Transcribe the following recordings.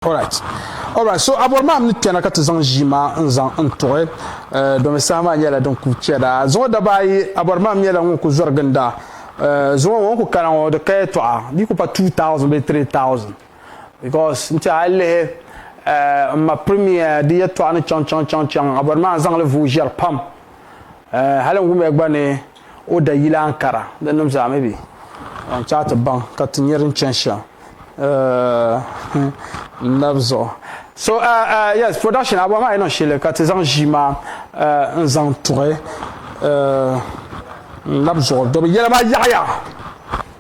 Alright. Alright, so abɔri maa ni kpɛna ka ti zaŋ ʒii maa n zaŋ n tuɣi eh, domi saha maa nyɛla din ku chɛda. Zuŋɔ daba ayi, abɔri maa nyɛla ŋun ku zɔri ginda. Eh, zuŋɔ ŋɔ ku kana ŋɔ di ka yɛtɔɣa, di ku pa 2000 bee 3000. Because n ti a yi lihi eh, n ma Premier di yɛtɔɣa ni chaŋ chaŋ chaŋ chaŋ, abɔri maa n zaŋli vuui ʒɛri pam. Eh, hali n wumiya gba ni. O da yila Ankara. Di nim zaa mi bi yɛn chaai ti baŋ ka ti nyɛ din chani shɛm n nab zuɣu. So yes production abuɣa maa yi niŋ shɛli ka ti zaŋ ʒii maa n zaŋ tuɣi n nab zuɣu dɔbi yɛla maa yaɣiya.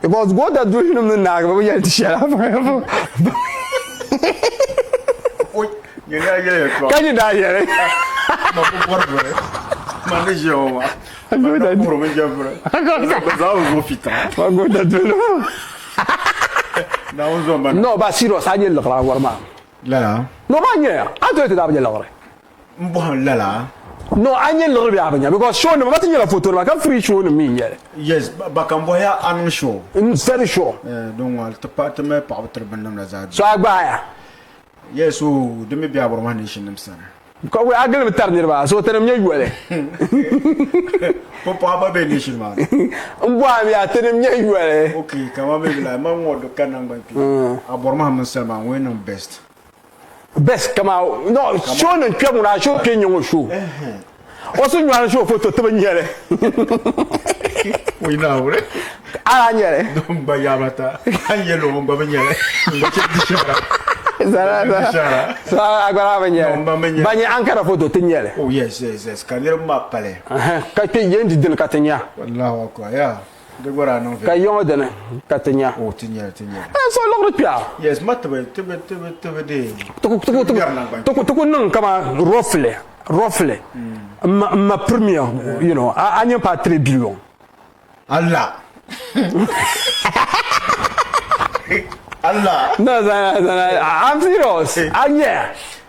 because goota duhinim ni naagi bɛ bi yɛli di shɛla ka nyi daa yɛli goota duhinim no ba serious a nyɛ liɣiri a wari maa no ba nyɛya a tooi ti daa bi nyɛ liɣiri n bɔhim lala. No a nyɛ liɣiri bɛ a bi nya because show nima ba ti nyɛla foto nima ka free show nim mi n nyɛli. Yes ba kan bɔhi ya a niŋ show. N very sure. Eh din ŋɔli ti pahi ti mali paɣaba tiri binnim la zaa. So a gbaai ya. Yes oo di mi bɛ Aburma nation nim sani. Ka wuli a gilimi tari niriba so tinim nyɛ yoli. Pumpɔha gba bɛ nation maa ni. N bɔhim ya tinim nyɛ yoli. Okay kaman bɛ bi lahi ma ŋɔ do ka nangban kpe. Aburma mini Salima ŋɔ yɛn niŋ best. best kama no show nin kpɛ ŋuna show kpɛ nyɛ ŋo show o si nyɔri show foto tibi nyɛli o yina awure ala nyɛli don gba yaaba ta an yɛ lo gba bi nyɛli gba chɛ di shara agbara bi nyɛli ba nyɛ ankara foto ti nyɛli oh yes yes yes ka niriba maa pali ka kpɛ yɛn di dini ka ti nya wallahu akbar yeah Ka yiŋɔ dini ka ti nya? N so liɣiri kpɛɣu. Ti ku niŋ kaman roughly, roughly, m ma premier, you know, a nya paai three billion. Allah! No, I'm serious. A nya?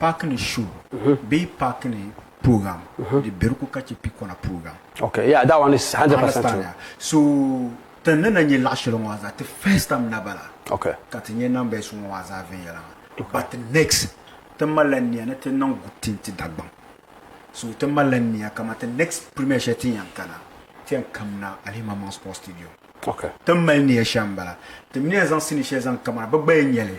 Paaki ni show bee paaki ni program di beri ko ka che pikona program. Okay yeah that one is 100 percent true. Ya so tin ni na nye laɣi sheli ŋɔ azaa ti first time na bala okay ka ti nye numbers ŋɔ azaa viɛnyela maa but next ti malila nia ni ti niŋ good thing ti Dagbaŋ so ti malila nia kaman ti next premier sheli tin yan kana ti yan kamina Alihi Mammaŋ Sports Stadium okay tin mali nia shem bala ti mi ni yan zaŋ sini sheli zaŋ kamina bi gba yan nyeli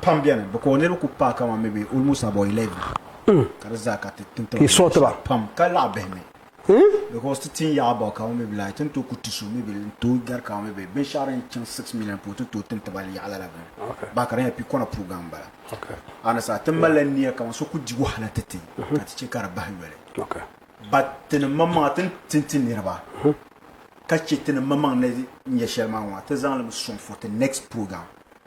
pam beni bɛ ka o niriba kuli paai kaman maybe almost about 11 hmm. ka di zaa ka ti tinti ti sort ba pam ka laɣa bihi mi hmm? because ti tin yaɣa about kaman maybe like tin to ku ti so maybe n to gari kaman maybe binshɛɣu din chaŋ 6 million po tin to tinti ba yaɣala la bini ba ka di nyɛ pikɔna program bala and sa tin mali la niya kaman so ku di wahala ti ti mhm. ka ti che ka di bahi yoli but tini mamaŋa tin tinti niriba mhm. ka che tini mamaŋ ni nyɛ shɛli maa ŋɔ ti zaŋ li sɔŋ for the next program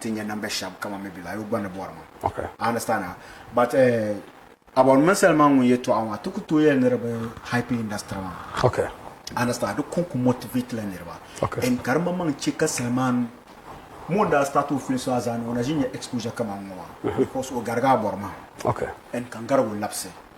ti nya namba shɛb kaman mi bɛ lahi yo gba ni bɔri ma. I understand a? But uh, about mini Selma ŋun yɛtɔɣa maa, ti ku tooi yɛli ni di bi hype industry maa. Okay. I understand. Di kon ku motivate la niriba. Okay. And ka di maŋmaŋ chɛ ka Selman mo n-daa start o film so a zaani o na ʒi nya exposure kaman ŋɔ maa. Because o garigi a bɔri mahim. Okay. And ka n garigi o labisi.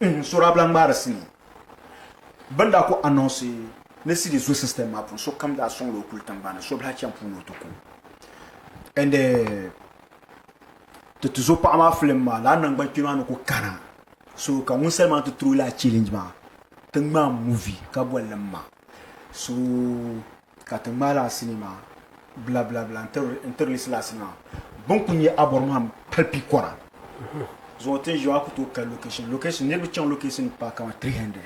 N sɔri abila ŋmaari sinii. Bɛ ni daa ku anɔnsi ni CD zo sistɛm maa puuni, sokam daa sɔŋla o kuli tiŋgbani ni Sobila cham puuni o ti ku. And ti ti zo paɣa maa filim maa lala nangban kpɛma maa ni ku kana. So ka wunsali maa ti tiri o lala challenge maa ti ŋmaai movie ka boli li m-ma. So. ka ti ŋmaai lala sinii maa bilabilabila n-tiri li silasi maa. Bini kuli nyɛ Abɔrmaham pali pikɔra zuɣu ti ni ʒiya maa ku tooi kali location location. Niriba chaŋ location ni paai kamani 300.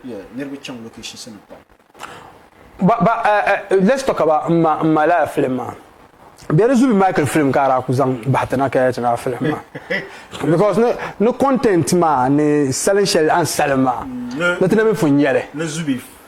Yeah, niriba chaŋ location si ni pam. Ba, ba, eh, eh, let's talk about m ma, m ma lala film maa. Bɛ di zubi Michael film ka a daa ku zaŋ bahi ti na ka yɛli ti lala film maa. Because ni, ni content maa ni salin shɛli a ni salim maa, ni ti na mi pun nya li. Ni zubi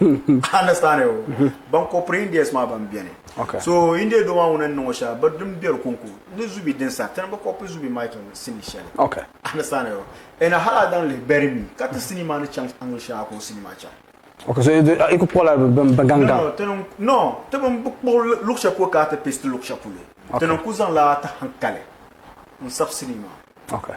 understand o ban ko piri indians maa ban beni okay. so india do maa ŋuna n niŋo shɛli bi din beri konko ni zubi din sa tini bi kopi zubi mike sini shɛli okay. understand o ɛna hali adan lihi beri mi ka ti sini maa ni chaŋ angle shɛli a ka o sini maa chaŋ okay, so i ku kpuɣila bi gaŋ gaŋ no ti bin bi kpuɣi luɣu shɛli polo ka a ti pesti luɣu shɛli polo tini n ku zaŋla a ti hankali n sabi sini maa okay.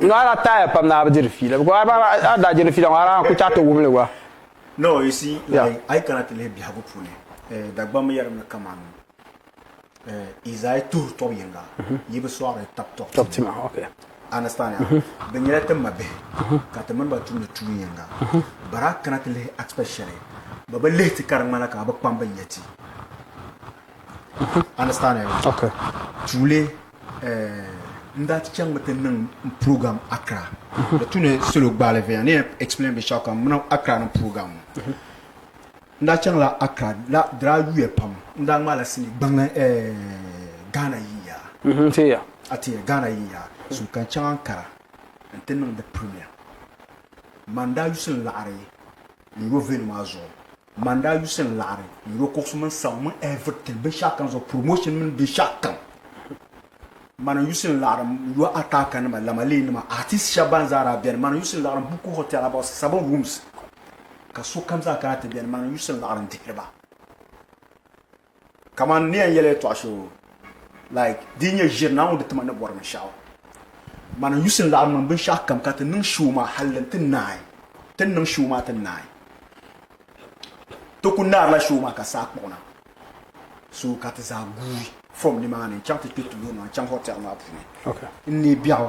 No a daa taaya pam ni a bi diri fiila because a daa a daa diri fiila ŋɔ a daa ku chaɣi ti wumli gba. No, you see, like, a yi kana ti lihi biɛhigu puuni eh, Dagbamba yɛlim ni kaman eh, Izaya tuhi tɔb yiŋga, yi bi sɔɣiri tab tɔb Tɔb tima, tima, okay. Understand ya? Bɛ nyɛla ti mabihi ka ti mini ba tumdi tuun yiŋga. But a kana ti lihi aspect shɛli, bɛ bi lihi ti ka di ŋmanila ka a bi kpam bɛ nya ti. understand okay tuuli eh, n daa ti chaŋmi ti niŋ program Accra mhm. di tu ni solo gbaali viɛnya ni explain bi shaka muna Accra ni program mhm. n daa chaŋla Accra la dira yuya pam n daa ŋmaala sini gbaŋli eh, Ghana yiya mhm, tiya a tiya Ghana yiya so kan chaŋ Ankara n ti niŋ di premier man daa yusin laɣari n yo venu maa zuɣu Man daa yusi n laɣiri yuro kuɣusi mini sabu mini everything binshɛɣu kam zuɣu promotion mini binshɛɣu kam man n yusi n laɣiri yo ataka nima lamalee nima artist shɛba ban zaa daa bɛni man n yusi n laɣiri buku hotel about seven rooms ka sokam zaa kana ti bɛni man n yusi n laɣiri n dihiri ba kamani ni yɛn yɛli yɛltɔɣa shee o like di nyɛ ʒiri naa ŋun di tima ni bɔri binshɛɣu man n yusi n laɣim niŋ binshɛɣu kam ka ti niŋ shoo maa hali n ti naai ti ni niŋ shoo maa ti naai ti ku naarila shoo maa ka saa kpuɣina so ka ti zaa guui from nimaani n chaŋ ti kpɛ tuuli maa n chaŋ hotel maa puuni n neei biɛɣu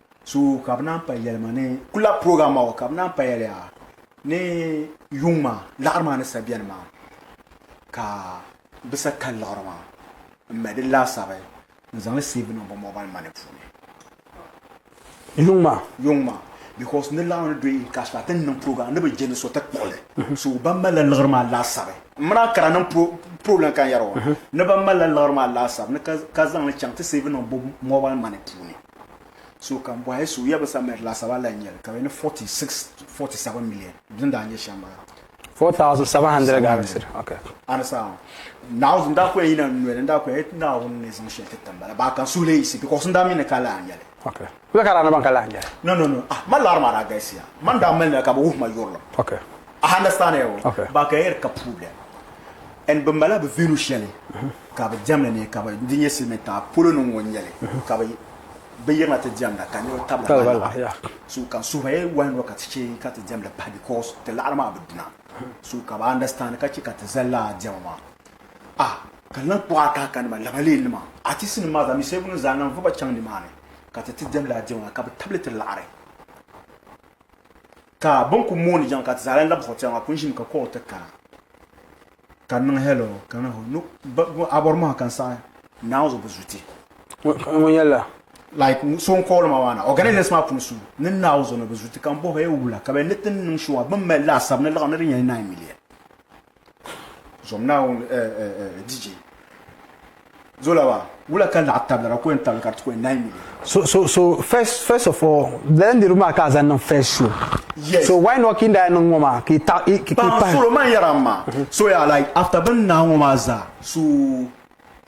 So ka bɛ naan pay yɛli ma ni kulab program maa o ka bɛ naan payali a ni yuŋ maa laɣiri maa ni sa bɛni maa ka bɛ sa kali liɣiri maa n mali di laasabi n zaŋli save niŋ bɛ mobile money puuni yuŋ maa yuŋ maa because ni laɣiri ni do in cash la ti ni niŋ program ni bi jɛ ni so ti kpuɣili mhm. so ban malila liɣiri maa laasabi n mina kara niŋ problem kan yɛri o mhm. ni ban malila liɣiri maa laasabi ni ka zaŋli chaŋ ti save niŋ bɛ mobile money puuni So ka bɔhi so ya bisa minit laasabu a lahi nya li ka bɛ ni 46 47 million din daa nyɛ shɛm bala. 4,700 Ghana cedi. Okay. Understand? Now n daa ko ya yina n noli n daa ko ya yati Naawuni ni zaŋ shɛli ti tim bala baa ka n suhi li yisi because n daa mi ni ka lahi nya li. Okay. Bɛ ka daa ni ban ka lahi nya li. No no no ah ma lari maa daa galisiya man daa mali na ka bɛ wuhi ma yurilim. Okay. A understand ya o. Okay. Baa ka ya yati ka problem and bɛ mala bɛ venue shɛli Ka bɛ diɛmli ni ka bɛ di nyɛ silimiin tiŋa polo ni ŋ-ŋɔ n-nyɛli ka bɛ bɛ yirina ti diɛmda ka niriba tabila ba laɣiri so ka suhuyɛ wahi ŋɔ ka ti chɛ ka ti diɛmli pahi because ti laɣiri maa bi duna so ka bɛ understand ka chɛ ka ti zali lala diɛma maa ah ka lan kpuɣi a kaaka nima lamalee nima artist nima maa zaa mi Savelugu zaa lan voba chaŋ ni maa ni ka ti ti diɛm lala diɛma maa ka bɛ tabili ti laɣiri ka bɛ ni kuli mooni jaŋ ka ti zaa lan labi zuɣu tɛra maa kuli ʒimi ka call ti kana. ka n niŋ hello ka n ho no ba bo a bɔri mɔha ka n saɣi naan zuɣu bi zuti Ŋun ŋun yɛla like n- so n kɔɔli ma maa na organizers maa puuni so ni naan zuɣu ni bi zuti ka n bohi e wula ka bɛ ni ti niŋ shɛŋa bin mali laasabu ni liɣiri ni di nyɛla 9 million zom naawuni eh, eh, eh, DJ Zola maa, wula ka naɣ tabili ka kɔhim tabili ka di ti kɔhi nine million? So so so first first of all lala niriba maa ka a zaŋ niŋ first show yes. so why not ki n daa niŋ ŋɔ maa ki ta ki ki pahi solo man yɛra n maa mhm. so ya like after bin naai ŋɔ maa zaa so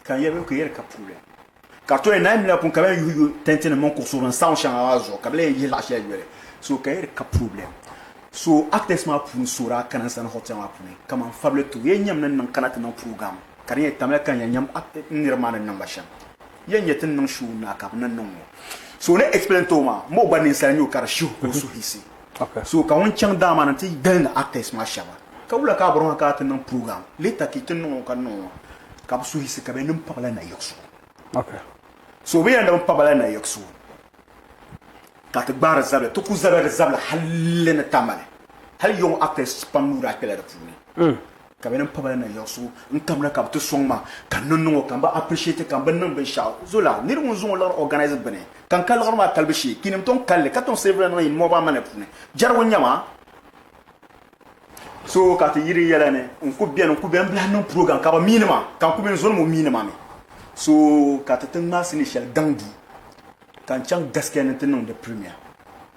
ka yɛ ka yɛri ka problem ka to yɛ nine million pun ka bɛ yuhi yuhi tɛnti nim mini kuɣusi bin sound shɛŋa maa zuɣu ka bɛ lee yihi laɣa shɛli yoli so ka yɛri ka problem so actors maa puuni so daa kana n sani hotel maa puuni kaman fabili to yɛ nyɛm ni niŋ kana ti niŋ program ka di ni yɛn tamya ka n yɛn nyam n niriba maa ni niŋ ba shɛm yɛn nyɛ ti ni niŋ shuu na ka bɛ ni niŋ ŋɔ so o ni explain ti o maa m o gba ninsali nyɛ o ka di shihi ka o suhisi so ka ŋun chaŋ daa maa ni ti gilindi actors maa shɛba ka wula ka a bɔriŋɔ ka a ti niŋ program later ka yi ti niŋ ŋɔ ka niŋ ŋɔ ka bɛ suhisi ka bɛ ni pa ba la nayiɣisu so bɛ yɛn di mi pa ba la nayiɣisu ka ti gbaari zabili ti ku zabiri zabili hali ni tamali hali yɔŋ actors pam nuu daa kpɛla di puuni Ka bɛ niŋ pabali na yiɣisigu n kamda ka bɛ ti sɔŋ ma ka n ni niŋ o ka m bi appreciate ka m bi niŋ binshɛɣu zola niriba ŋun zuŋɔ liɣiri organize gbuni ka n ka liɣiri maa kalibu shee kiinim tɔŋ kali li ka tɔŋ siri bila niŋ yi mɔɣu ba manner puuni jɛrigu n-nyɛ ma so ka ti yiri yɛla ni n ku beni n ku beni n bilahi niŋ program ka bɛ miini ma ka n ku be n zoni ŋɔ miini ma mi so ka ti ti ŋmaai sini shɛli gaŋ duu ka n chaŋ gaskiya ni n ti niŋ di premier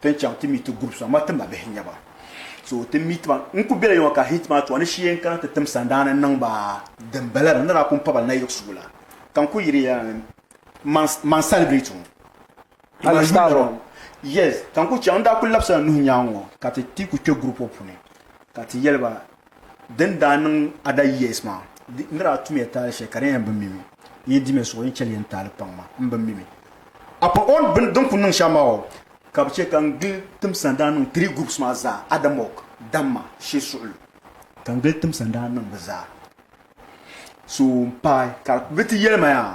Ti ni chaŋ ti meet ti groups maa ma ti ma bihi n-nyɛ ba so ti meet ba n kuli bela yoma ka heat maa tɔɣa ni shee n kana ti tim sandaani n niŋ ba din bala la ni daa kuli paba na yiɣisigu la ka n kuli yiri ya man man celebrate ŋɔ Ala style ŋɔ yes ka n kuli chaŋ n daa kuli labisila nuhi nyaaŋa ŋɔ ka ti ti kuli kpe group ŋɔ puuni ka ti yɛli ba Din daa niŋ Ada years maa, n daa tumiya taali shɛli ka di yɛn bi mi mi. N yi dimi suɣi, n chɛli yɛn taali paŋ maa, m bi mi mi. Apart on bini din kuli niŋ shɛm maa o, ka bi chɛ ka n gili timsa n daa niŋ three groups maa zaa, Adamɔg, Damma, Shee Suɣulu. Ka n gili timsa n daa niŋ bi zaa. So m paai ka bi ti yɛli ma yaa.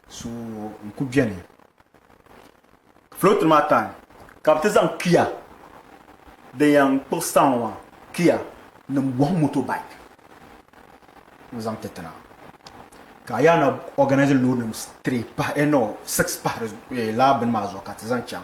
so n ku beni float maa time ka bi ti zaŋ kia din yan kpuɣi star ŋɔ maa kia nim buɣim motorbike n zaŋ ti tina ka a yaa na organize load nim three pahi eh no six pahi di eh, laa bini maa zuɣu ka ti zaŋ chaŋ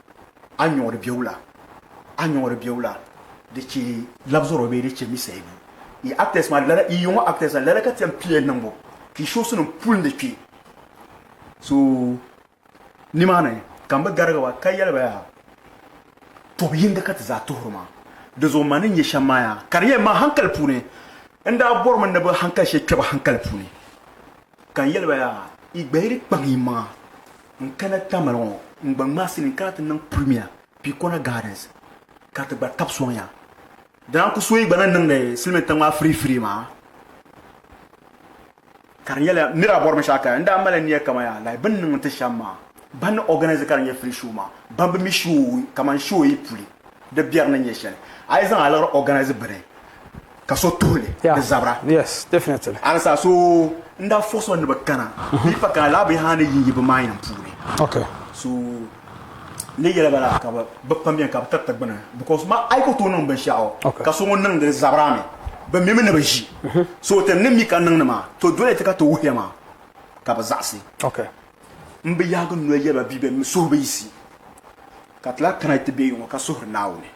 a nyɔɣiri bɛ wula? A nyɔɣiri bɛ wula? Di chɛ labzɔro bee di chɛ mi sayibu? Yi actors maa lala, yi yɔŋɔ actors maa lala ka ti yɛn pii yɛn niŋbu ka yi shows nim puli ni kpɛ. So nimaani ka n bi garigi ba ka yɛli ba yaa tɔbu yinga ka ti zaa tuhiri ma. Di zuɣu ma ni nyɛ shɛm maa yaa ka di yɛn ma hankali puuni. N daa bɔrimi ni bi hankali shɛli kpɛ ba hankali puuni. Ka n yɛli ba yaa, yi gbahiri kpaŋ yi maŋa n kana Tamale ŋɔ n gba ŋmaasi ni n kana ti niŋ Premier Picona Gardens ka ti gba tabi sɔŋ ya. Dina n ku so yi gba ni niŋdi siliminta ŋɔ a firii firii maa. Ka di nyɛla nira a bɔri bin shɛɣu ka n daa mali niya kaman yaa like bini niŋ n ti shɛm maa ban ni organise ka di nyɛ free show maa ban bi mi show kaman show yi puli di biɛri ni nyɛ shɛli a yi zaŋ a liɣiri organise bini ka so tuhi li ni zabira. Yes, definitely. Alisa so n daa force o ni bi kana bee pa kana laa bee haa ni yi yi bi mind n puuni. Okay. So ni yɛli ba la ka bi bi pam bɛni ka bi tiriti gbuni because ma a yi ku tooi niŋ binshɛɣu Okay. ka so ŋun niŋdi li zabira mi bi mimi ni bi ʒi so ti ni mi ka niŋdi maa to dole ti ka ti wuhiya maa ka bi zaɣisi. Okay. N bi yaagi n noli yɛli ba bia bɛn mi suhu bi yiɣisi, ka ti lahi kana ti be yuŋɔ ka suhiri Naawuni,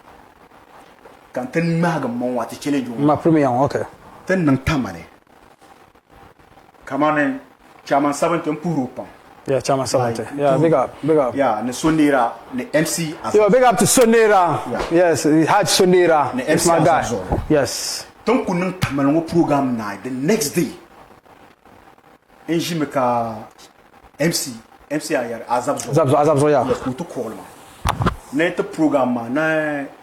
ka n ti ŋmaagi m maŋa ti chɛli yuŋɔ. Ti ni niŋ tama ni kamani Chairman Sabinti n puhiri o pam. Ni So Neera ni MC Azɔr. Ti ni kuli niŋ tama ni ŋɔ program naai the next day. n ʒimi ka MC MC Ayari Azab Zuɣu Azab Zuɣu Azab Zuɣu ya yes ku ti kuɣili ma ni ti program maa na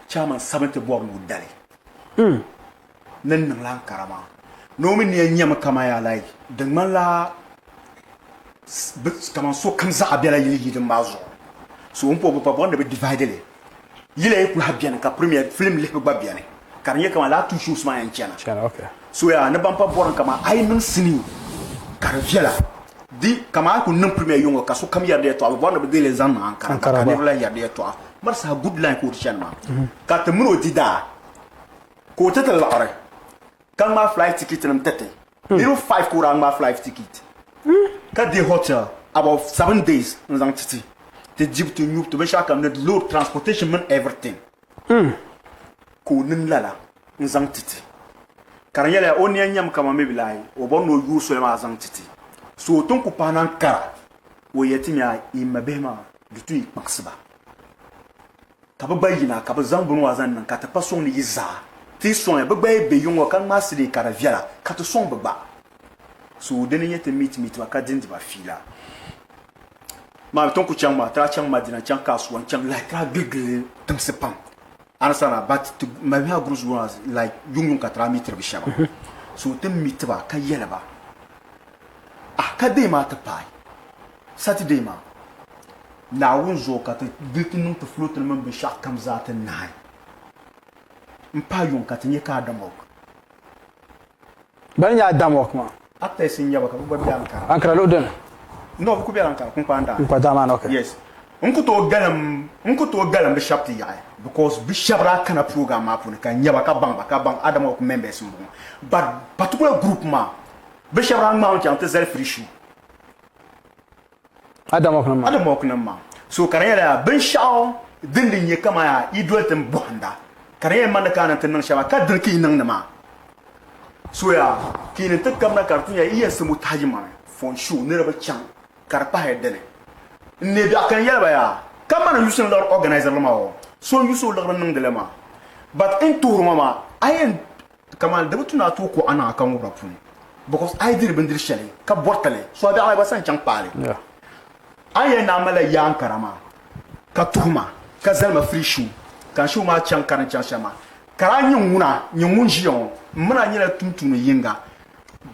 chairman sabinti bɔri ni o dali mm. ni niŋla Ankara maa ni o mi ni ya nyɛmi kama ya like di ŋmanila kaman so kam zaɣa bela yili yidin maa zuɣu so n po bi pa bɔri ni bi divide li Yili ayi kulaha beni ka premier film lihibu gba beni ka di nyɛ kaman laa two shows maa yɛn chana. Chana okay. So yaa ni ban pa bɔrim kaman ayi niŋ sinii ka di viɛla. Di kaman ayi kuli niŋ premier yiŋɔ ka sokam yɛri di yɛtɔɣa bi bɔri ni bi deei li zaŋ niŋ Ankara gba ka niriba lahi yɛri di yɛtɔɣa mali saha good line ka o di chani maa ka ti mini o di daa ka o ti ti laɣiri. ka ŋmaa flight ticket nim tɛti hmm. niriba five ka o daa ŋmaa flight ticket hmm. ka di hotel about seven days n zaŋ titi ti dibu ti nyubu ti binshaɣu kam ni load transportation mini everything hmm. ka o niŋ lala n zaŋ titi ka di nyɛla o niya nyɛmi kama mi bi lahi o bɔri ni o yuui soli maa zaŋ titi so o tin ku pahi na n kara o yɛ ti mi a yi ma bihi maa di tu yi kpaŋsiba Ka bɛ gba yina ka bɛ zaŋ bini maa zaŋ niŋ ka ti kpa sɔŋ ni yi zaa ti yi sɔŋ ya. Bɛ gba yi be yiŋɔ ka ŋmaasi li ka di viɛla ka ti sɔŋ bɛ gba. So dini n-nyɛ ti meet meet ba ka dindi ba fiila maa. Ti ni ku chaŋ maa, ti daa chaŋ Madina n-chaŋ kaasuwa n-chaŋ like ti daa gili gili tiŋsi pam understand but ti mali maa groups ŋɔ maa like yuŋ yuŋ ka ti daa meetiri bi shɛba. So ti meet ba ka yɛli ba ah ka dee maa ti paai. Saturday maa, Naawuni zuɣu ka ti di ti niŋ ti floating mini binshɛɣu kam zaa ti nahi m-pahi yuŋ ka ti nyɛ ka Adamok. Bana n-nyɛ Adamok maa? Actors n-nyɛ ba ka bɛ gba be Ankara. Ankara luɣi dini? No, bɛ kuli bela Ankara, Kunkpaan Daa. Kunkpaan Daa maa ni, ok. Yes. N ku tooi galim, n ku tooi galim bɛ shɛba ti yaɣi because bɛ shɛba daa kana program maa puuni ka n nya ba ka baŋ ba ka baŋ Adamok members m-bɔŋɔ but particular group maa bɛ shɛba daa ŋmaami chaŋ ti zali free show. Adamɔknim maa. So ka di nyɛla yaa binshɛɣu din di nyɛ kaman yaa yi doli tin bɔhinda, ka di nyɛla mani ka a ni ti niŋ shɛba, ka dini ka yi niŋdi maa? So yaa ka yi ni ti kabina ka di ti nya yi yɛn simbu tahigi mani fɔn sho niriba chaŋ ka di pahila dini n neei biɛɣu ka n yɛli ba yaa kamani n yusi ni liɣiri organiser li maa o so n yusi o liɣiri niŋdi li maa but n tuhiri ma maa a yɛn Kaman di bi tu ni a tooi kuɣ a niŋ a kaŋubira puuni, because a yi diri bindiri shɛli ka bɔriti li, so a bɛ Alahiba sani chaŋ kpaai li. A ni yɛli ni a malila yaa n-kara maa, ka tuhi ma, ka zali ma free show, ka n show maa chaŋ ka din chaŋ shɛm maa, kara a nyini ŋuna, nyini ŋun ʒiya ŋɔ, m mini a nyɛla tumtumdi yiŋga.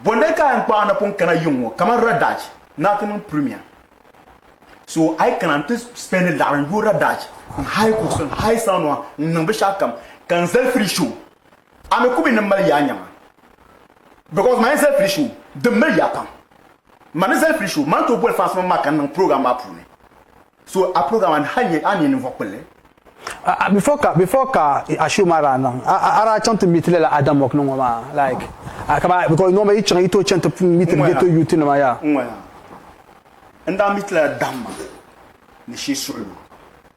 Bɔndali ka a yɛn kpaai a napɔŋ kana yiŋ ŋɔ, kaman Radaj ni a ti niŋ premier. So a yi kana n-ti spendi laɣiri n-yooi Radaj, n-hire kuɣusi, n-hire sanwa, n-niŋ binshɛɣukam, ka n zali free show, a mi ku mi ni mali yaa nyaŋa because man zali pili show din mali yaa pam man ni zali pili show man to boli fans maa ka n niŋ program maa puuni so a program an hali nyɛ an nyɛ ninvuɣu kpulli Uh, before ka before ka a show maa daa niŋ a daa chaŋ ti meet lala Adam Mok ni ŋɔ maa like uh, ka ba because nɔma yi chaŋ yi to chaŋ ti meet ghetto youth nima ya. N ŋɔya n daa meet lala Dam ma ni shee suɣulo.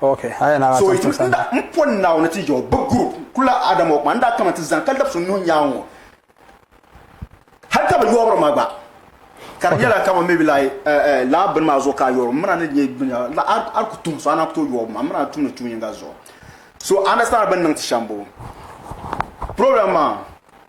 So yi ti nda n pɔ Naawuni ti jɛo bɛ group kula Adam o kuma n daa kama ti zani ka labisi n nuhi nyaaŋ ŋɔ hali ka bɛ yɔɔbiri ma gba ka di nyɛla kama maybe like laa bini maa zuɣu ka a yɔɔri m mina ni nyɛ bini a ku tum so a na ku tooi yɔɔbi ma m mina n tumdi tuun yinga zuɣu so understand bini niŋ ti shɛm boo problem maa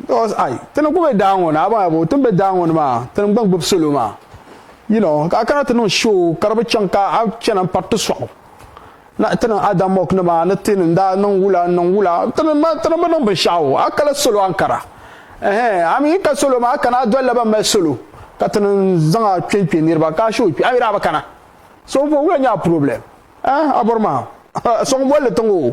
because ai ti ni gbubi daa ŋɔ ni abaŋ yabo ti ni be daa ŋɔ ni maa ti ni gba gbubi salo maa you know ka a kana ti niŋ show ka di bi chaŋ ka a chana m-pari ti sɔɣu na ti niŋ ada mock ni maa ni ti ni daa niŋ wula n niŋ wula ti ni ti ni bi niŋ binshɛɣu a kala salo ankara ɛhɛn a mi yi ka salo maa a kana a dolila ban mali salo ka ti ni zaŋ a kpe n-kpe niriba ka a show kpe a mi daa bi kana so bɔ wula nyɛ a problem eh a bɔri maa ha so ŋun bolli tiŋ o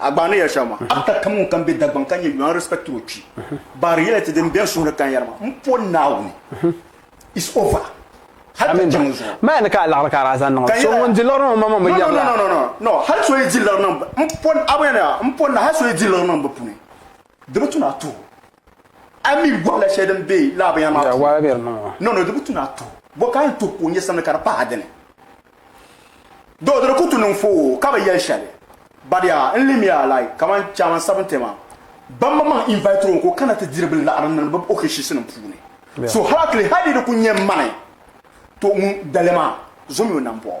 A gbaai ni yɛli shɛm maa. A ka ka ŋun kam be Dagbaŋ ka nyɛ Yuan respected o kpi baari yɛla ti din bɛn suhiri kanyari maa m po Naawuni. It's over. Hali ka chaŋ zuɣu. Maya ni ka a laɣiri ka a daa zaŋ niŋ. So ŋun di liɣiri niŋ ma maŋ bi yɛri la. No no no no no hali so yi di liɣiri niŋ m po Naawuni. M po Naawuni hali so yi di liɣiri niŋ bɛ puuni. Di bi tu ni a tuhu. A mi gɔhila shɛli din be lala binyɛri maa puuni. Nɔno, di bi tu ni a tuhu. Bɔ ka a ni tuhi ka o nyɛ sani ka di pahi a dini? Doo, di di ku tu ni n fo o ka bi yɛli shɛli. Badiya, n lihimiya like kamani Chairman Sabinti maa, ban ma maŋ invite o ni ka o kana ti diri bɛ laɣiri ni bɛ okeshisinima puuni. So hali a kili hali di di ku nyɛ mani, to ŋun dali maa, zo mi o nambɔɣu.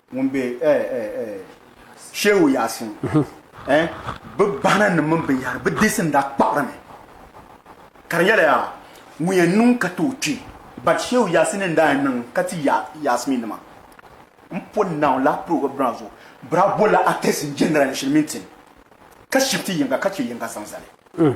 Ŋun be eh eh eh Shehu Yasin eh Bɛ bahina nim mini binyahiri bɛ deesi n daa kpaɣiri mi ka di nyɛla yaa ŋun yɛn niŋ ka tooi kpi but Shehu Yasin n daa yɛn niŋ ka ti ya Yasmin nima n pɔ naw laa program maa zuɣu bɛ daa bolila artist n general shiri mini tin ka shifti yiŋga ka che yiŋga zaŋ zali.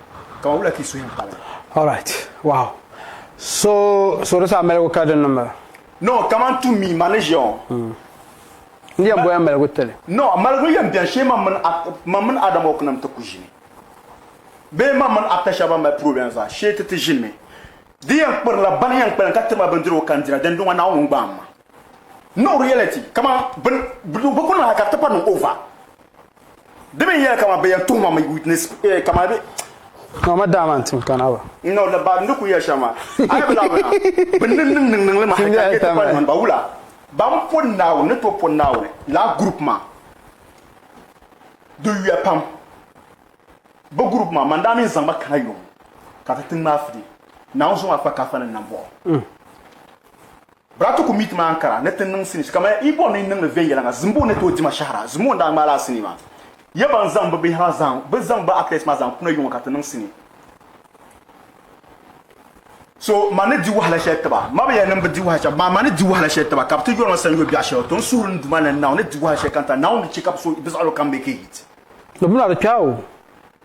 ka ma wula ti suhi m pali. All right, wow. So, so di saa maligu ka din niŋba? No, kaman to me, ma ni ʒiya ŋɔ. Hmm. N yɛn bɔya maligu tili. No, maligu yɛn bɛni shee mam mini, mam mini Adam Hawk nim ti ku ʒini. Bee mam mini actor shɛba ban mali problem zaa shee ti ti ʒinimi. Di yɛn kpirila bani yɛn kpalim ka tiri ma bindirigu ka n dira, dindɔŋɔ Naawuni n-gbaai ma. No reality kama bin bi kuli na ka tipa niŋ over di min yɛli kama bɛ yɛn tuhuma mi witness eh, kama bɛ Mama dama n tim kana ba. No da ba ni ku yɛ shɛma ayi bila bina bi niŋ niŋ niŋ niŋli ma ka yɛ tipa niŋ ba wula ban po naawuni ni to po naawuni la group ma di yuya pam bi group ma man daa min zaŋ ba kana yom ka ti tiŋ maa fidi naawuni so maa kpa kafa ni nambɔɣu mm. Bratu ku mi ti maa n-kara ni ti niŋ sinii kamaya Ibon ni niŋdi viɛnyɛliŋga Zimbo ni tooi dima shɛhira. Zimbo n-daa ŋmaai lala sinii maa. Ya ban zaŋ bɛ bihi maa bɛ zaŋ bɛ actors maa zaŋ kuna yuŋɔ ka ti niŋ sinii. So ma ni di wahala shɛli tiba. Ma bi yɛli ni m bi di wahala shɛli amaa ma ni di wahala shɛli tiba ka bɛ ti yɔri ma sanyɔ biɛɣu shɛli. To n suhiri ni Duuma ni Naawuni ni di wahala shɛli ka n tari Naawuni ni chɛ ka bɛ so bɛ zaɣilo kam be kɛhit. Di mi na di kpɛɣu.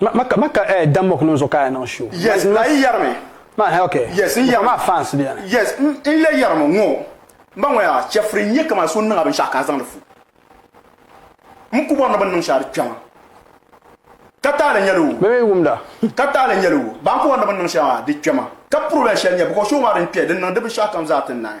Ma, ma, ma ka eh, Dan Mok niŋ zuɣu ka a niŋ show. Yes, ma, a yi yɛrimi. Ma, eh, okay. Yes, n yɛrimi. Ma fans bɛni. Yes, n, n le yɛrimi ŋɔ. N ba ŋɔya, chɛfuri n-nyɛ kaman so niŋ a binshɛɣu ka a zaŋdi fu. M ku bɔri ni bɛ ni niŋ shɛli di kpɛma. Ka taali nyɛli o. Bɛ mi wumda. Ka taali nyɛli o. Ba n ku bɔri ni bɛ ni niŋ shɛli maa di kpɛma. Ka puroblɛm shɛli nyɛ, bicos show maa din kpɛ, din niŋ di binshɛɣu kam zaa ti naai.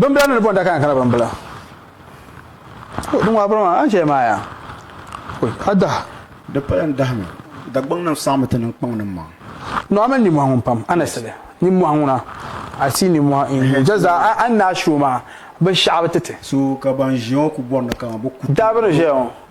Bimbila ni di bɔŋda ka kana bimbila. Di ŋɔbiri maa an chɛ maaya. A daha. Di pala n dahimi. Dagbaŋnim saɣimi ti niŋ kpaŋnim maa. No a mali nimɔhi ŋun pam a ni sili nimɔhi ŋuna a si nimɔhi in jazaa a ni daa shi o maa binshɛɣu bi ti ti. So ka ban ʒiya ŋɔ ku bɔri ni ka bɛ ku ti. Daa bi ni ʒiya ŋɔ.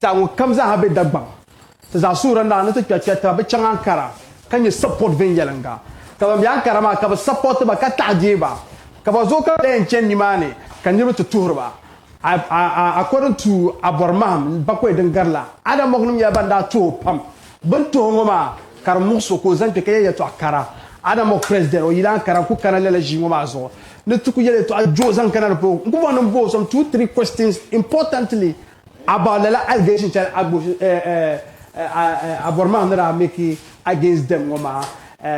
Ti a ŋɔ kam zaa ha be Dagbaŋ. Ti zaa suhiri naa ni ti kpɛri kpɛri taba, bɛ chaŋ Ankara ka nyɛ support viɛnyɛliŋga. Ka ban be Ankara maa ka bɛ support ba ka taɣi deei ba. Ka ba zooi ka bɛ daa yɛn chani nimaani ka niriba ti tuhiri ba. According to Abɔri Mahim, Bakɔi din gari la, Adamonim nyɛla ban daa tuhi o pam. Bini tuhi ŋɔ maa ka di muɣisi o ka o zaŋ kpe ka yɛli yɛltɔɣa kara. Adam Mock President, o yilan kara n-ku kana lala ʒii ŋɔ maa zuɣu ni ti ku yɛli yɛltɔɣa juɣu zaŋ kana di puuni. N ku bɔŋ ni m bo o some two, three questions importantly about lala allegation shɛli Abɔrimaŋ ni daa make against them ŋɔ maa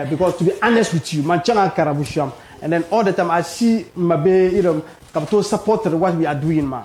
because to be honest with you, man chaŋ a kara Busham and then all the time I see m mabihi ka bɛ tooi supportiri what we are doing maa.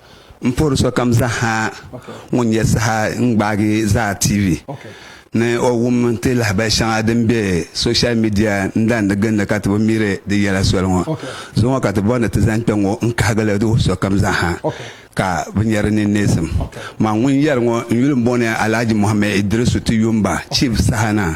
N puhiri sokam zaha ŋun nyɛ saha n gbaagi Zaa TV ni o wum ti lahabali shɛŋa din be social media n dandi gindi ka ti bi miri di yɛla soli ŋɔ. Zo ŋɔ ka ti bɔri ni ti zaŋ kpe ŋɔ n kahigili di wuhi sokam zaha ka bi nyɛ di ni neesim. Man ŋun yɛri ŋɔ n yuli n bɔŋɔ ni Alhaji Mohammed Idrisu Tiyumba, Chief Saha Naa.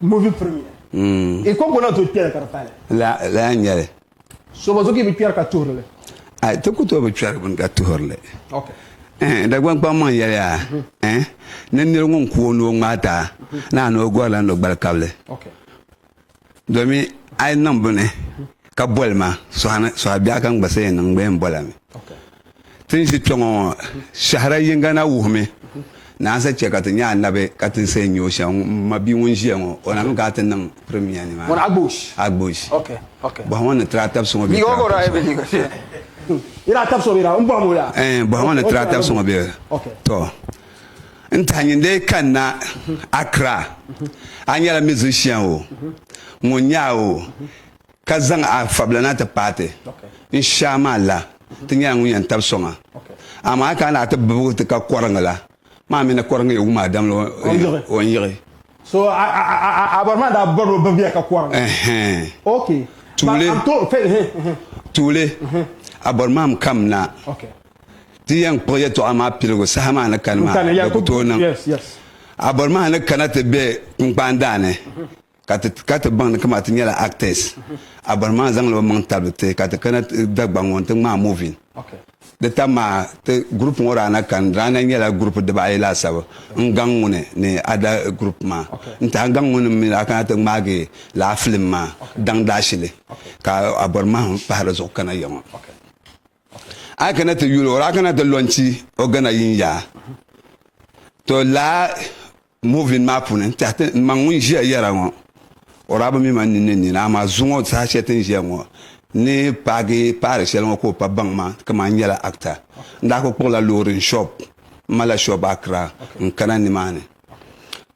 Movie premiere. Mm. I ko gona to kpɛri ka di pali. La la ya nyɛli. So ba zo ki bi kpɛri ka tuhiri li. Ai ti ku to bi kpɛri bini ka tuhiri li. Okay. Eh, Dagban kpaŋ maŋ yɛliya eh, ni niri ŋun ku o ni o ŋmaai taa naani o gɔri la ni o gbali kabili domin a yi niŋ bini ka boli ma sɔhi biɛɣu ka n gba sa yɛn niŋ n gba yɛn bola mi Ti ni ʒi kpɛŋɔ ŋɔ, shɛhira yiŋga na wuhimi ni a ni sa chɛ ka ti nya anabi ka ti ni saha nya o shɛm. M mabia ŋun ʒiya ŋɔ, o na mi ka a ti niŋ Premier nimaani. Agbush. Bɔhim o ni Tiraatabi so ŋɔ bee Tiraatabi so ŋɔ? Yi daa tabisi o bee daa? M bɔhim o yaa. Ɛɛn, bɔhim o ni Tiraatabi so ŋɔ bee? Tɔ! N tahi nyin lee kanna Accra, a nyɛla musician o, ŋun nya a o, Ka zaŋ a fabila na ti paai ti. N Shia maa la, ti nyɛla ŋun yɛn tabi so maa. Amaa ka a ni a ti bibigu ti ka kɔriŋ la, maa mi ni kɔriŋ yi wum a damli o ni yiɣi. So a bɔri maa daa bɔri o bibiya ka kɔriŋ. Tuuli, A bɔri maa mi kam na. Ti yɛn kpuɣi yɛtɔɣa maa piligu saha maa ni kani maa, di ku tooi niŋ. A bɔri maa ni kana ti be kunkpaandaa ni. Ka ti ka ti baŋ ni kama ti nyɛla actors a bɔri maa zaŋla o maŋ tabili ti ka ti kana Dagbaŋ ŋɔ n-ti ŋmaai movie. Di tam maa ti group ŋɔ daa na kani di daa na nyɛla group diba ayi laasabu n gaŋ ŋuni ni other group maa n-ti a gaŋ ŋuni mi daa kana ti ŋmaagi lala film maa daŋ daashili ka a bɔri mahim pahi di zuɣu kana ya ŋɔ. A yi kana ti yuli o daa kana ti launchi o gana yin ya to laa Movin maa puuni n tɛhi ti n maŋ ŋun ʒiya yɛra ŋɔ o daa bi mi ma ninni nina amaa zuŋɔ saha shɛli ti ni ʒiya ŋɔ n ni paagi paari shɛli ŋɔ ka o pa baŋ ma kaman n nyɛla actor. N daa kuli kpuɣila loori n shop m ma la shop Accra n kana nimaani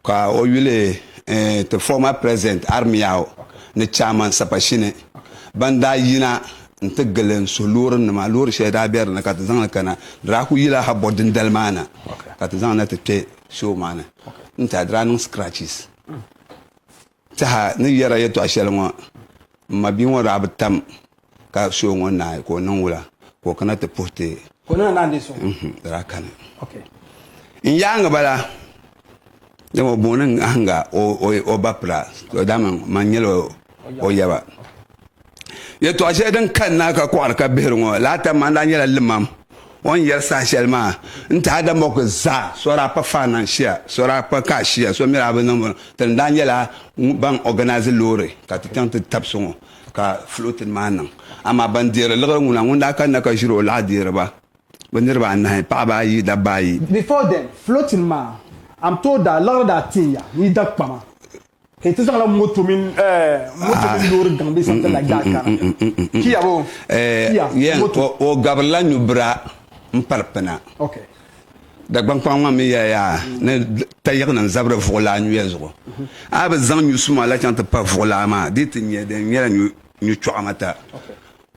ka o yuli ti former president Armiao ni chairman Sapashine ban daa yina n ti gili n suhi loori nima loori shɛli daa be di ni ka ti zaŋ li kana di daa kuli yila Habot dindali maa na ka ti zaŋ na ti kpe show maa ni n tiɛha di daa niŋ scratches n tiɛha ni yɛra yɛtɔɣa shɛli ŋɔ n ma bia ŋɔ daa bi tam ka show ŋɔ naai ka o niŋ wula ka o kana ti puhi ti ka o niŋ naan deei so mhm, di daa kani n yaangi bala dama o booni ahinga o ba pira dama man nyɛla o yaba Yɛltɔɣa shɛli din kali naa ka kɔɣiri ka bihiri ŋɔ laata maa daa nyɛla limam o ni yɛri saha shɛli maa n ti ada mɔku zaa so daa pa faan na n-shia so daa pa ka shia so mi daa bi niŋ ti ni daa nyɛla ban ɔganaazi loori ka ti chaŋ ti tab so ŋɔ ka fulootin maa niŋ amaa ban deeri liɣiri ŋuna ŋun daa kanna ka ʒiri o laɣ deeri ba bɛ niriba anahi paɣaba ayi dabba ayi. Before then, fulootin maa a ni tooi daa liɣiri daa tin ya n yi da kpama. N ti zaŋla moto mini loori gaŋ bee santa la gbaai kana. Kia bo? Kia, moto. O gabirila nyubira m-pari pina. Dagbaŋ kpaŋa maa mi yɛla yaa ni tayiɣinim zabiri vuɣilaa nyuya zuɣu. A bi zaŋ nyu suma la chaŋ ti pa vuɣilaa maa di yi ti nya di ni nyɛla nyu chɔɣimata.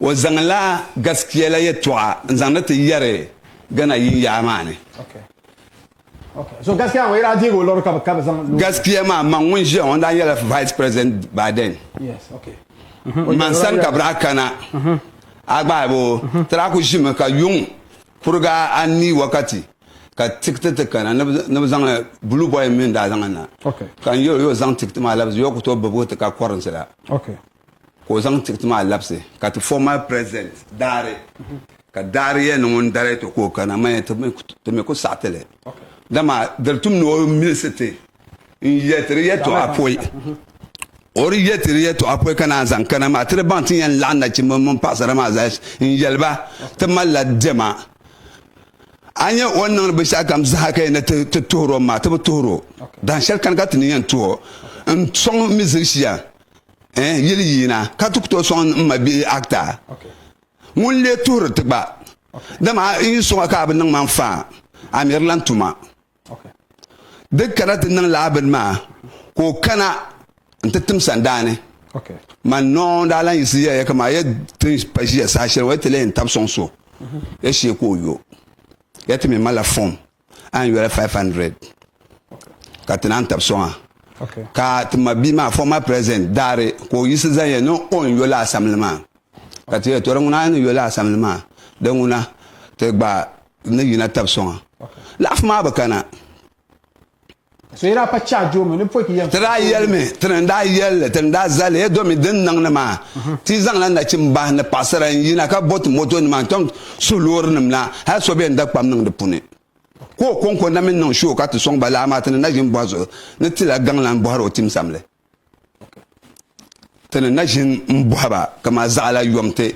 O zaŋla gaskiya la yɛtɔɣa n-zaŋdi ti yɛri Ghana yin yaɣa maa ni. Gaskiya maa man ŋun ʒiya ŋun daa nyɛla vice president Biden man sani ka birahi kana a gbahi bo tira ku ʒimi ka yuŋ kuriga anii wakati ka tikiti ti kana ni bi zaŋ blue boy mini daa zaŋ na ka n yuli yo zaŋ tikiti maa labisi yo ku tooi bibigu ti ka currency la. ka o zaŋ tikiti maa labisi ka ti fo mali president daari ka daari yɛli ni ŋun dali to ka o kana mani ti mi ku saɣiti li dama diri tum ni o milisi ti n yɛtiri yɛtɔɣa poi o di yɛtiri yɛtɔɣa poi ka naan zaŋ kana maa ti di baŋ ti ni yɛn laɣim nachimba mini paɣasara maa zaa n yɛliba ti malila dɛma a nyɛ o ni niŋdi binshɛɣu kam zaha ka yɛn ni ti tuhiro maa ti bi tuhiro dahin shɛli kani ka ti ni yɛn tuho n sɔŋ mi zilishia eh, yili yiina ka ti ku tooi sɔŋ n ma bihi akta ŋun lee tuhiri ti gba dama n yi sɔŋ ka a bi niŋ ma n faa a mi di lan tuma di kana ti niŋ laa bini maa ka o kana n ti tim sandaani man nɔɔ daa lan yiɣisi yɛliya kama ya ti pa ʒiya saha shɛli ŋɔ ya ti lee yɛn tab sɔŋ so ya shee ka o yo ya ti mi malila fɔm a ni yoli 500 ka ti naan tabi soŋa ka ti ma bia maa former president daari ka o yiɣisi zaya ni o ni yoli asamli maa ka ti yɛli to di ŋuna a ni yoli asamli maa di ŋuna ti gba ni yina tabi soŋa laɣafu maa bi kana Ti daa yɛlimi, ti ni daa yɛli li, ti ni daa zali ya domi din niŋdi maa, ti zaŋla nachim bahi ni paɣisara n-yina ka bo ti motonima n-chaŋ suhu loorinim na hal so bɛn da kpam niŋ di puuni. Ka o kɔŋko na mi niŋ shoo ka ti sɔŋ ba laa maa ti ni naʒin bɔhi zuɣu ni ti la gaŋlan bɔhiri o tim samli. Ti ni naʒin m-bɔhi ba kaman zaɣila yɔŋ ti.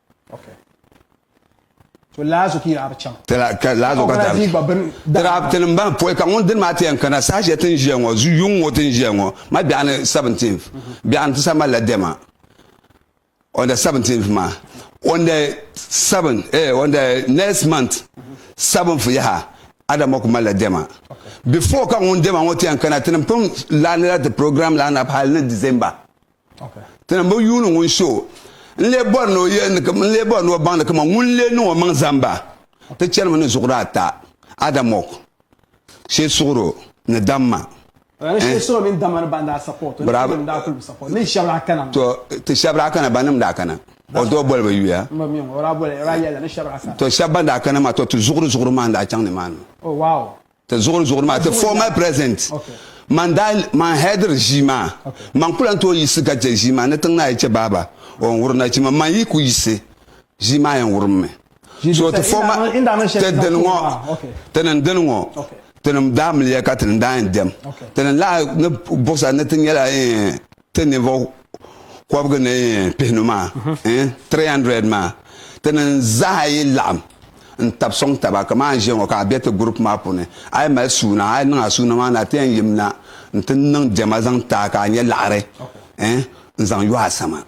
to laazo ki yaɣari chaŋ ka laazo ka dari gba bin daraabiti nim ban pɔi ka ŋun dini maa ti yɛn kana saha shɛli tin ʒiya ŋɔ yuŋ ŋɔ tin ʒiya ŋɔ ma biɛɣu ni 17 biɛɣu ni ti sa malila dɛma on the 17 maa on the 7 eh, on the next month 7th yaha adama ku malila dɛma before ka ŋun dɛma ŋɔ ti yɛn kana ti nim pun laanila ti program line up hali ni december Tɛna bi yuuni ŋun so n lee bɔri ni o yɛli ni n lee bɔri ni o baŋ ni kama ŋun lee niŋ o maŋ zamba ti chɛrimi ni zuɣuri ata Adamɔk Shesuɣuro ni Damma to ti shɛbi daa kana banim daa kana o doo boli bi yuya to shɛbi ban daa kana maa to ti zuɣuri zuɣuri maa n daa chaŋ ni maa ni Ti zuɣuri zuɣuri maa ti former president man daa man hɛdiri ʒii maa man ku lan tooi yiɣisi ka chɛ ʒii maa ni tiŋ naa yi chɛ baaba o yɛn wuri nachimba man yi ku yiɣisi ʒii maa yɛn wurimmi so ti former ti dini ŋɔ ti ni dini ŋɔ ti ni daa miliya ka ti ni daa yɛn dɛm ti ni lahi ni buɣisa ni ti nyɛla Ti ninvuɣ kɔbigu ni yɛn pihinu maa, 300 maa, tinim zaa yi laɣim n-tab sɔŋ taba kaman n ʒiya ŋɔ ka a be ti group maa puuni, a yi mali suuna, a yi niŋ a suuna maa ni a ti yɛn yimna nti niŋ diɛma zaŋ ti a ka a nya laɣiri n-zaŋ yo a sani.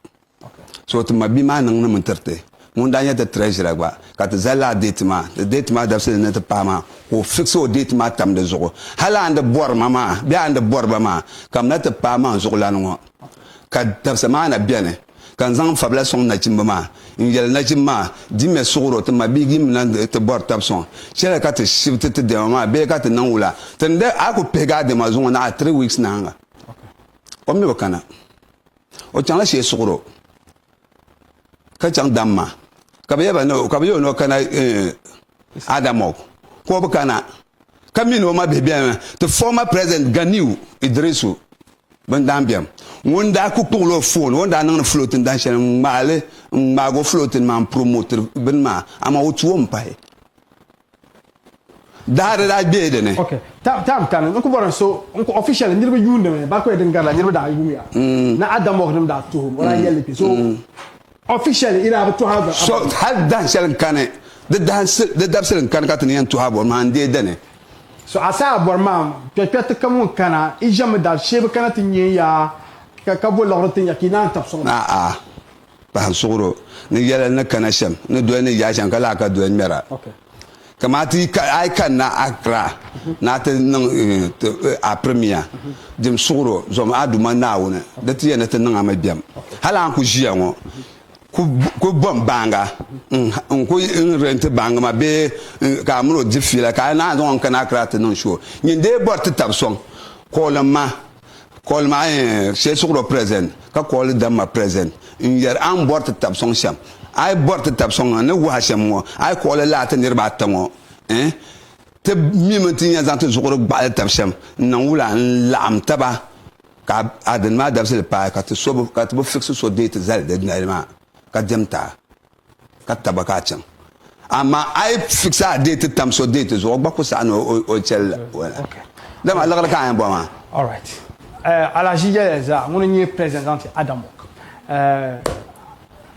So ti ma bia maa niŋnimi n-tiri ti. Ŋun daa nyɛ ti treasurer gba, ka ti zali lala date maa, di date maa dabisili ni ti paai maa, ka o fix o date maa tam di zuɣu. Hal a ni di bɔri ma maa bee a ni di bɔri ba maa, ka mna ti paai maa n-zuɣulan ŋɔ, ka dabisa maa na beni, ka n zaŋ n fabila sɔŋ nachimba maa, n-yeli nachimba maa, Dimya suɣiri o, ti ma bia gimmi na n-ti bɔri tab sɔŋ. Chela ka ti shibiti ti dɛma maa bee ka ti niŋ wula? Ti ni daa a ku pihigi a dɛma zuŋɔ na a three weeks nahiŋga, o mi bi kana. O chaŋla shee suɣuro ka chaŋ dam maa ka bi yɛba ka bi yɛ o ni o kana Adamɔg ka o bi kana ka mi ni o ma bihi bɛni ti former president Ganiu Idrisu bin daan bɛm ŋun daa ku kpuɣila o foon o ni daa niŋdi floating dan shɛli n ŋmaali n ŋmaagi o floating maa n promote bini maa amaa o tuom pahi Dahiri daa gbee di ni. Ok, tam ka ni n ku bɔri n so n ku officially niriba yuundi mi Barkwe din garila niriba daa yuum ya ni Adamɔɣu nim daa tuhim o daa yɛli li kpe so officially yi daa bi tuhi a bɔri a. Hali dahin shɛli n kani di dabisili n kani ka ti ni yɛn tuhi a bɔri maa n deei di ni. So a saha bɔri maa kpɛ kpɛ ti kami n kana i ʒemi daa shee bi kana ti nyɛ ya ka bo liɣiri ti nya ka yi naan tab sɔŋ ba. A'a. pahin suɣuro ni yɛlli ni kana shɛm ni doli ni yaai shɛŋa ka lahi ka doli ŋmɛra kamani ti a yi kanna Accra ni a ti niŋ eh, a pirimiya jim suɣuro zom a Duuma Naawuni di ti yɛn ni ti niŋ a mi bɛm hali a ni ku ʒiya ŋɔ ku bɔm baanga n ku n renti baangi ma bee ka a mini o di fiila ka a naan zaŋ n kana Accra ti niŋ shoo nyin dee bɔri ti tab sɔŋ kɔɔlim ma Kɔɔli maa n-nyɛ shɛlsuɣirɔ present, ka kɔɔli damma present n-yɛri a ni bɔri ti tab sɔŋ shɛm. A yi bɔri ti tab sɔŋ a ni wuhi a shɛm ŋɔ, a yi kɔɔli lala ti niriba ata ŋɔ, eh, ti mimi ti ni yɛn zaŋ ti zuɣuri gbaɣili tab shɛm n-niŋ wula n-laɣim taba ka a dini maa dabisili paai ka ti so bi, ka ti bi fiksi so deei ti zali di nali maa ka diɛmta. ka taba ka a chaŋ amaa a yi fikisa a deeti tam so deeti zuɣu o gba ku saɣi ni o chɛli dama liɣiri ka a yɛn bɔri maa. All right. Uh, Alhaji Yaya Zaa, ŋuni n-nyɛ President zaŋ ti Adam Wok. Uh, eh,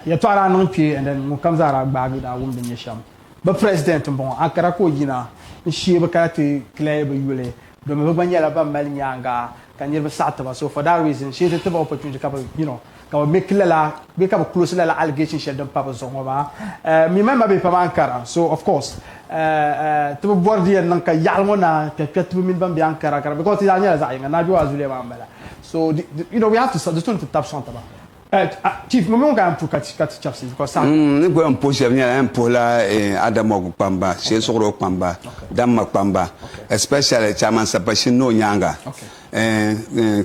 yɛtɔɣa daa niŋ kpe and then ŋunkam zaa daa gbaagi daa wum din nyɛ shɛm. Bɛ President m-bɔŋɔ, ankara ka o yina n-sheei bɛ kaya ti clear bɛ yuli Domin bɛ gba nyɛla ban mali nyaaŋa ka niriba saɣi tiba so for that reason shee ti tiba opportunity ka bɛ you know ka bɛ make lala bee ka bɛ close lala allegation shɛli din pa bɛ zuɣu ŋɔ maa eh mi mali mabihi pam a ni kara so of course eh eh ti bi bɔri di yɛn niŋ ka yaɣili ŋɔ naan kpɛ kpɛ tibi mini ban be Ankara kara because ti zaa nyɛla zaɣi yinga Naaduwa Zuliya maa m bala so di you know we have to di so ni ti tabi sɔŋ tiba. N ni gba yɛn puhi shɛba nyɛla yɛn puhila Adamogu kpamba, Shee Suɣuro kpamba, Damma kpamba especially Chairman Sapashin ni o nyaaŋa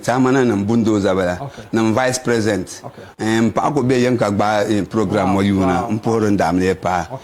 Tahimananim Bulldozer bala ni n Vice President. M paɣa kuli be Yinka gbaai program ŋɔ yuuna m-puhiri n daamliya paai.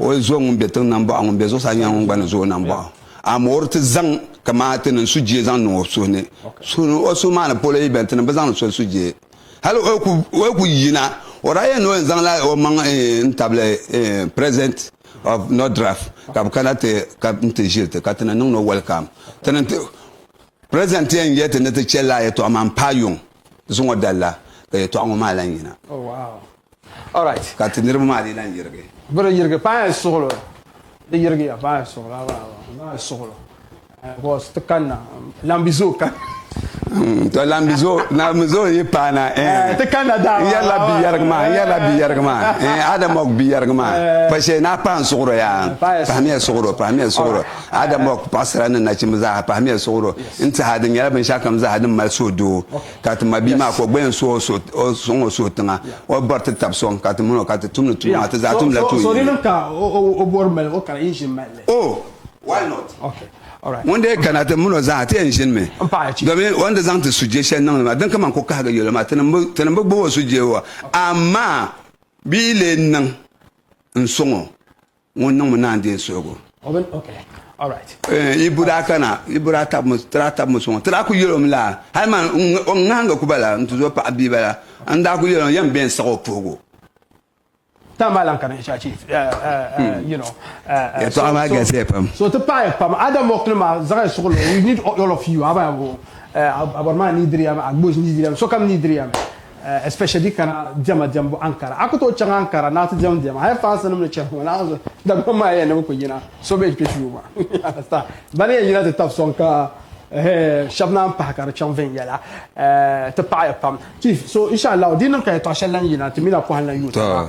O zo ŋun be tiŋ na m-bɔɣi ŋun be zuɣusaa nyɛla ŋun gba ni zo o na m-bɔɣi o. Amaa o di ti zaŋ kaman ti niŋ sujee zaŋ niŋ o suhu ni. O suhu maa ni polo yi beni ti ni bi zaŋ ni so sujee. Hali o yi ku yina, o daa yɛn ni o yɛn zaŋla o maŋ n-tabili President of Nordraf ka bɛ kana ti nti ʒiri ti ka ti ni niŋdi o welcome. Ti ni ti President ti yɛn yɛli ti ni ti chɛ lala yɛtɔɣa maa m-paai yuŋ zuŋɔ dali la ka yɛtɔɣa ŋɔ maa lahi yina. Ka ti niriba maa dii lan yirigi. Bɛ di yirigi paai suɣulo. Di yirigiya paai suɣulo abaaba paai suɣulo because ti kanna Lambizoo kanna. To Lambizoo yi paana eh ti kanna daa n yerila bi yerigi maa n yerila bi yerigi maa eh Adamok bi yerigi maa pa shee ni a pahi n suɣuro yaa pahimiya suɣuro pahimiya suɣuro Adamok paɣasara ni nachimba zaaha pahimiya suɣuro n tihi a di nyɛla binshakam zaaha din mali suhudoo. Ka ti mabia maa ka o gba yɛn suhi o suhu, o suŋ o suhu tiŋa, o bɔri ti tab sɔŋ ka ti mini o ka ti tumdi tuma maa, ti zaa tumdila tuun yini. Oh! Why not? Ŋun dii kana ti mini o zaa, ti yɛn ʒinimi, domin o ni di zaŋ ti sujee shɛli niŋdi maa, din ka man ku kahigi yolo maa, ti ni bi gbubi o sujee wa, amaa bɛ yi lee niŋ n-sɔŋ o. ŋun niŋmi naan deei suhigu. Yi budaa kana, yi budaa tabimi, ti daa tabimi sɔŋɔ. Ti daa kul yɛl o mi laa, hal man o ŋahinga ku bala n-ti zo paɣ bia bala, n daa kul yɛl o yɛn bɛn siɣ o puhigu. Yɛtɔɣa maa galisiya pam. especially di kana diɛma diɛmbu Ankara. A ku tooi chaŋ Ankara ni a ti diɛm diɛma. Hali fansnim ni chɛ ŋɔ naɣiŋsi Dagbaŋ maa yɛn ni bɛ ku yina so bɛn kpe shuu maa. You understand? Bɛ ni yɛn yina ti tab sɔŋ ka hee shɛb naan pahi ka di chaŋ viɛnyɛla ti paɣi ya pam. Chief, so inshallahu di ni niŋ ka yɛtɔɣ shɛli lan yina ti mi na pɔhim la yuuta maa.